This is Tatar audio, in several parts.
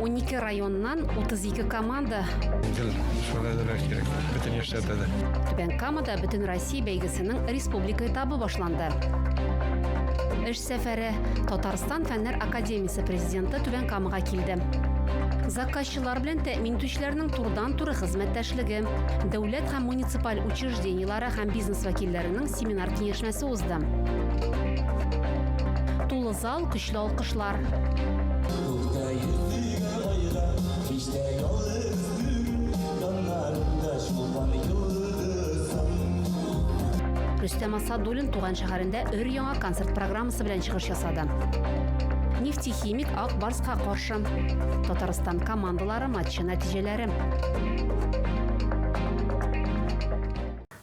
Унике районнан 32 команда. Гел шулай да кирәк. Бөтен яшьләрдә дә. Түбән Камада бөтен Россия бәйгесенең республика этабы башланды. Эш сәфәре Татарстан фәннәр академиясе президенты Түбән Камага килде. Заказчылар белән тәэмин итүчеләрнең турыдан-туры хезмәттәшлеге, дәүләт һәм муниципаль учреждениеләре һәм бизнес вәкилләренең семинар Ар киңәшмәсе узды. Тулы зал, көчле алкышлар. Рөстәм Асадуллин туган шәһәрендә өр-яңа концерт программасы белән чыгыш ясады. Нефтехимик Ак Барска каршы. Татарстан командалары матчы нәтиҗәләре.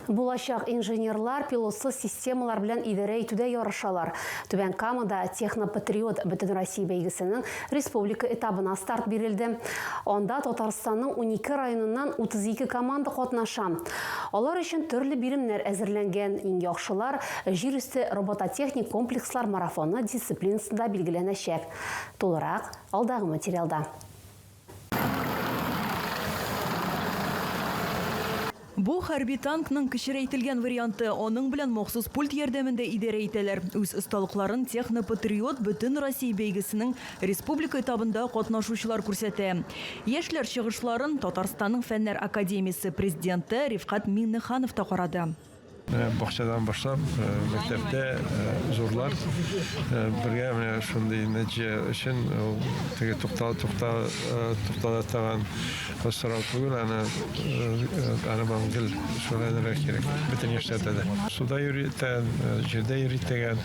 Булачак инженерлар пилотсыз системалар белән идарә итүдә ярышалар. Түбән Камада Технопатриот бөтенроссия бәйгесенең республика этабына старт бирелде. Анда Татарстанның унике районыннан 32 команда катнаша. Алар өчен төрле биремнәр әзерләнгән, иң яхшылар Җир өсте робототехник комплекслар марафоны дисциплинасында билгеләнәчәк. Тулырак, алдагы материалда. Бу, хәрби танкның кечерәйтелгән варианты, аның белән махсус пульт ярдәмендә идарә итәләр. Үз осталыкларын Технопатриот бөтенроссия бәйгесенең республика этабында катнашучылар күрсәтә. Яшьләр чыгышларын Татарстанның Фәннәр академиясе президенты Рифкать Миңнеханов та карады. Э, бакчадан башлап э, мәктәптә э, зурлар бергә менә шундый нәтиҗә өчен ул теге туктала туктала туктала торган сорау түгел аны аны бан гел шулай да кирәк бөтен яшьләрдә дә суда йөри итәгән җирдә йөри итәгән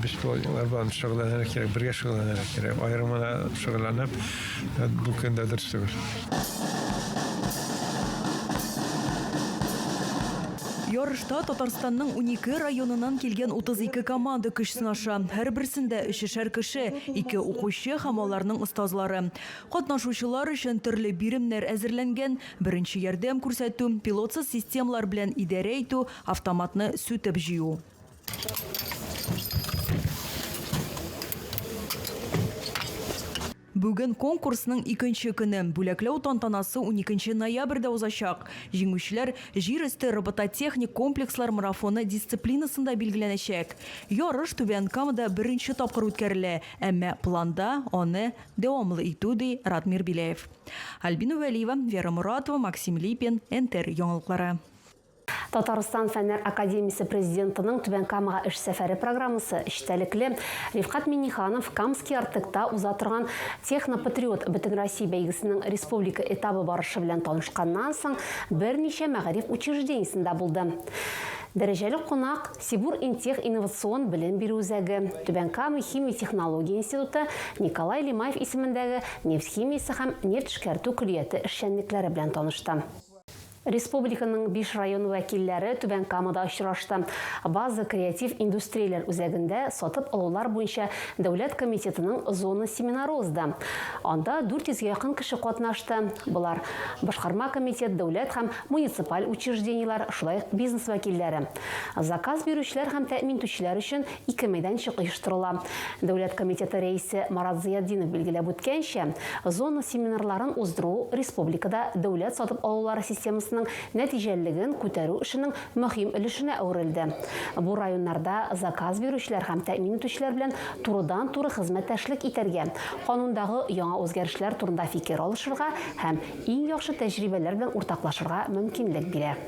беспилотниклар белән шөгыльләнергә кирәк бергә шөгыльләнергә кирәк аерым гына шөгыльләнеп бу көндә дөрес түгел Ярышта Татарстанның унике районыннан килгән 32 команда көч сынаша. Һәрберсендә өчешәр кеше, ике укучы һәм аларның остазлары. Катнашучылар өчен төрле биремнәр әзерләнгән, беренче ярдәм күрсәтү, пилотсыз системалар белән идарә итү, автоматны сүтеп җыю. Бүген конкурсның икенче көне. Бүләкләү тантанасы уникенче ноябрьдә узачак. Җиңүчеләр Җир өсте робототехник комплекслар марафоны дисциплинасында билгеләнәчәк. Ярыш Түбән Камада беренче тапкыр үткәрелә, әмма планда аны дәвамлы итү, ди Радмир Беляев. Альбина Вәлиева, Вера Моратова, Максим Липин, НТР яңалыклары. Татарстан Фәннәр академиясе президентының Түбән Камага эш сәфәре программасы эчтәлекле. Рифкат Минниханов Камский Артекта уза торган Технопатриот бөтенроссия бәйгесенең республика этабы барышы белән танышканнан соң, берничә мәгариф учреждениесендә булды. Дәрәҗәле кунак, Сибур-Интех инновацион белем бирү үзәге, Түбән Кама химия-технология институты, Николай Лимаев исемендәге нефть химиясе һәм нефть эшкәртү көллияте эшчәнлекләре белән танышты. Республиканың биш районы вәкилләре Түбән Камада очрашты. База креатив индустрияләр үзәгендә сатып алулар буенча дәүләт комитетының зона семинары узды. Анда 400 гә якын кеше катнашты. Болар, башкарма комитет, дәүләт һәм муниципаль учреждениеләр, шулай ук бизнес вәкилләре. Заказ бирүчеләр һәм тәэмин итүчеләр өчен Ике мәйданчык оештырыла. Дәүләт комитеты рәисе Марат Зыятдинов билгеләп үткәнчә, зона семинарларын уздыру республикада дәүләт сатып алулары системасының нәтиҗәлелеген күтәрү эшенең мөһим өлешенә әверелде. Бу районнарда заказ бирүчеләр һәм тәэмин итүчеләр белән турыдан-туры хезмәттәшлек итәргә, канундагы яңа үзгәрешләр турында фикер алышырга һәм иң яхшы тәҗрибәләр белән уртаклашырга мөмкинлек бирә.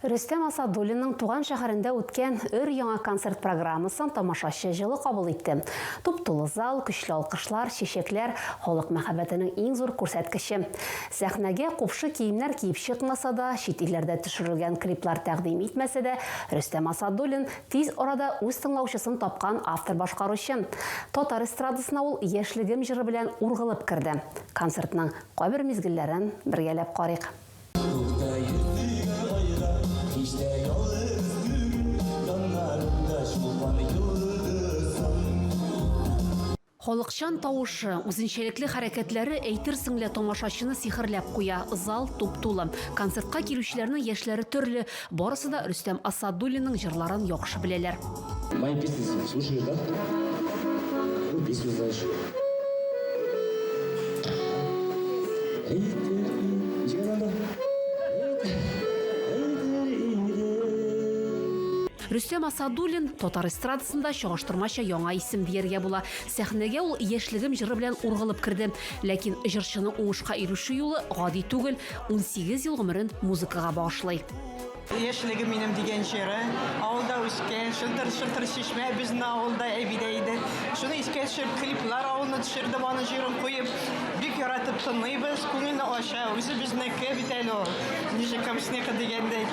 Рөстәм Асадуллинның туган шәһәрендә үткән өр-яңа концерт программасын тамашачы җылы кабул итте. Туп-тулы зал, көчле алкышлар, чәчәкләр, халык мәхәббәтенең иң зур күрсәткече. Сәхнәгә купшы киемнәр киеп чыкмаса да, чит илләрдә төшерелгән клиплар тәкъдим итмәсә дә, Рөстәм Асадуллин, тиз арада үз тыңлаучысын тапкан автор-башкаручы. Татар эстрадасына ул Яшьлегем җыры белән ургылып керде. Концертның кайбер мизгелләрен бергәләп карыйк. Халыкчан тавышы, үзенчәлекле хәрәкәтләре әйтерсең лә тамашачыны сихерләп куя. Зал туп-тулы. Концертка килүчеләрнең яшьләре төрле. Барысы да Рөстәм Асадуллинның җырларын яхшы беләләр. Мои песни слушаешь, да? Ну, песню знаешь. Рөстәм Асадуллин, татар эстрадасында чагыштырмача яңа исем дияргә була. Сәхнәгә ул Яшьлегем җыры белән ургылып керде. Ләкин җырчының уңышка ирешү юлы гади түгел. Унсигез ел гомерен музыкага багышлый. Яшьлегем минем дигән җыры. Авылда үскән, шылтыр-шылтыр чишмә безнең авылда әбидә иде. Шуны искә төшереп, клиплар авылны төшердем, аның җырын куеп, бик яратып тыңлыйбыз, күңелне ача, үзе безнеке бит әле ул, ничек камчныкы дигәндәй.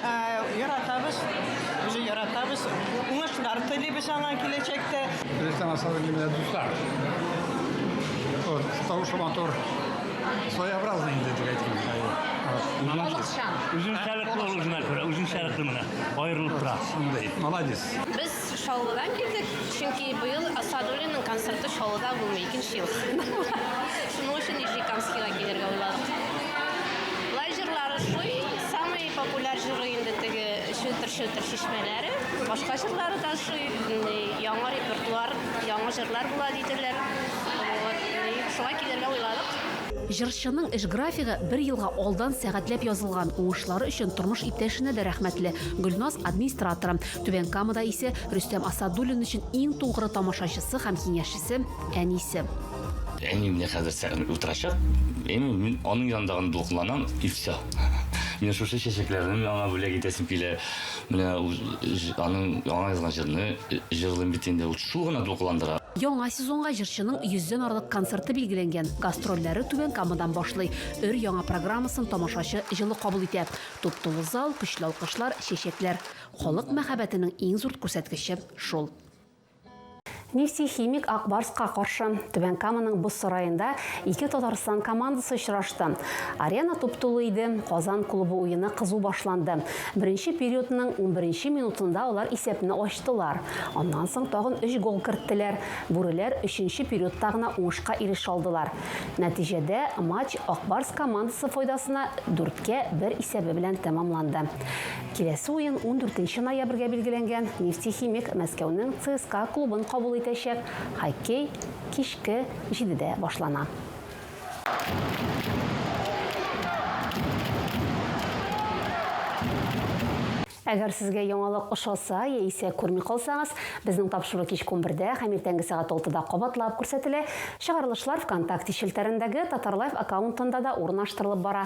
Ә, яратабыз, үзе яратабыз, уңышлар телибез аңа киләчәктә. Рәсәм асалым менә дуслар. Вот, тавышы матур. Своеобразный инде дип әйтим. Балыкчан. Үзенчәлекле ул үзенә күрә, үзенчәлекле менә аерылып тора. Шундый. Молодец. Без Чаллыдан килдек, чөнки быел Асадуллинның концерты Чаллыда булмый, икенче ел. Шуның өчен Нижнекамскига килергә уйладык. Лай җырлары шуй, самый популяр җыры инде теге челтер-челтер чишмәләре. Башка җырлары да шуй, яңа репертуар, яңа җырлар була диделәр. Шулай килергә уйладык. Җырчының эш графигы бер елга алдан сәгатьләп язылган, уңышлары өчен тормыш иптәшенә дә рәхмәтле. Гөлназ, администраторы. Түбән Камада исә Рөстәм Асадуллин өчен иң тугры тамашачысы һәм киңәшчесе, әнисе. Әни менә хәзер сәгънәдә утырачак, әйме, мин аның янында гына дулкынланам, и все. Менә шушы чәчәкләрне мин аңа бүләк итәсем килә. Менә аның яңа язган җырны җырлыйм бит инде. Ул шул гына дулкыландыра. Яңа сезонга җырчының йөздән арлык концерты билгеләнгән. Гастрольләре Түбән Камадан башлый. Өр-яңа программасын тамашачы җылы кабул итә. Туп-тулы зал, көчле алкышлар, чәчәкләр. Халык мәхәббәтенең иң зур күрсәткече шул. Нефтехимик Ак Барска каршы Түбән Каманың боз сараенда ике Татарстан командасы очрашты. Арена туп-тулы иде, Казан клубы уены кызу башланды. Беренче периодның унберенче минутында алар исәпне ачтылар. Аннан соң тагын өч гол керттеләр. Бүреләр өченче периодта гына уңышка ирешә алдылар. Нәтиҗәдә матч Ак Барс командасы файдасына дүрткә бер исәбе белән тәмамланды. Киләсе уен ундүртенче ноябрьгә билгеләнгән, Нефтехимик Мәскәүнең ЦСКА клубын кабул итәчәк, хоккей кичке җидедә башлана. Әгәр сезгә яңалык ошаса яисә күрми калсагыз, безнең тапшыру кичке унбердә һәм иртәнге сәгать алтыда кабатлап күрсәтелә. Чыгарылышлар Вконтакте челтәрендәге Татарлайф аккаунтында да урнаштырылып бара.